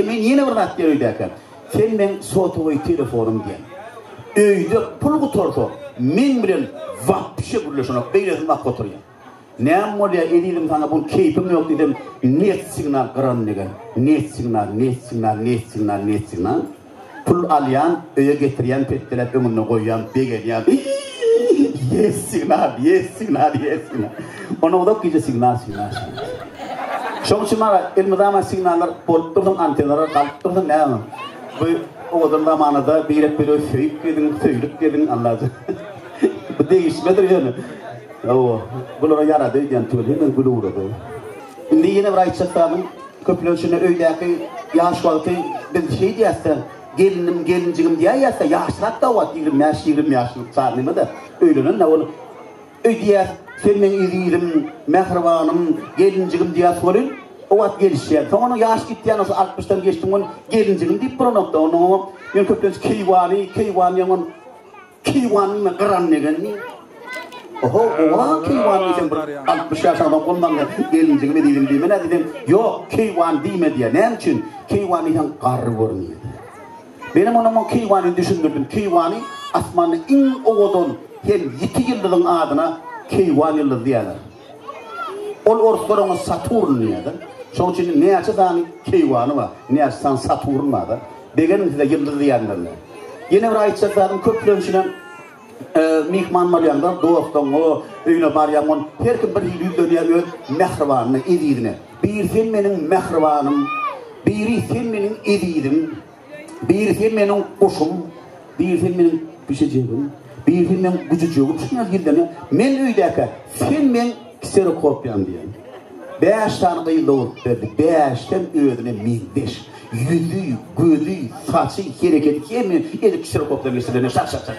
Men ýene bir zat gereýdäkä, sen meň sotowy telefonym diýen. Öýde pul gutarsa, meň bilen wapşe gürleşenok, beýlesini bakip oturýar. Näme bolýa, ezizim, saňa bu keýpim ýok diýsem, net signal gyran degen. Net signal, net signal, net signal, net signal. Pul alýan, öýe getirýän petdeläp öňünde goýýan, begenýän. Iiiiiiiiiiiii ýes signal, ýes signal, ýes signal. Onda uzak gije signal, signal, signal. Şoň üçin maňa elmydama signallar bolup dursun, antennalar galyp dursun, näme? Bu owadan zamanada birek-biregi söýüp geziň, söýlüp geziň, Allajan. Bu degişmedir ýöne. Hawa, bulara ýarady öýdýän tüweleme gül ugrady. Indi ýene bir aýtjak zadym, köpler şunda öýdäki ýaş wagty biz şeý diýäs-de, gelnim, gelinjigim diýäýýäs-de, ýaşrak-da wagt, ýigrimi bäş, ýigrimi ýaşlyk çag neme-de, öýlenen-de ol. Öý diýýäs, sen meň ezizim, mähribanym, gelinjigim diýýäs welin, o wagt gelişýär. Soň onuň ýaşy gitýär, ol altmyşdan geçdiginden gelinjigim diýip bolanok-da, onuň oňa men köplenç keýwany, keýwan diýen ol. Keýwanymy gyran degenmi? Oho, oha, keýwan diýsem bir 60 ýaş adam ondan gelinjigime diýdim diýme näde diýdim. Ýok, keýwan diýme diýýär. Näme üçin? Keýwan diýseň garry görünýär. Benim onama keýwany düşündirdim. Keýwany asmanda iň owadan hem ýiti ýyldyzyň adyna keýwan ýyldyzy diýýärler. Ol orslar oňa Saturn diýýärler. Şoň üçin näçe sany keýwany bar, näçe sany Saturn bar-da. Begendiň size ýyldyz diýenlerine. Ýene bir aýtjak zadym köplençinem myhman bolýaňda dostuňa, öýüne barýaňda her kim bir hili ýüzlenýär öz mähribanyna, ezizine. Biri sen meniň mähribanym, biri sen meniň ezizim. Birisi meniň guşum, birisi meniň pişijigim, birisi meniň güjüjigim şuňa gildene, men öýdäkä, sen meň kserokopýam diýen. Bäş sany gyz dogrup berdi, bäşdem özüne meňzeş. Ýüzi, gözi, saçy, hereketi hemme edip kserokopdan geçirilene şak-şak-şak.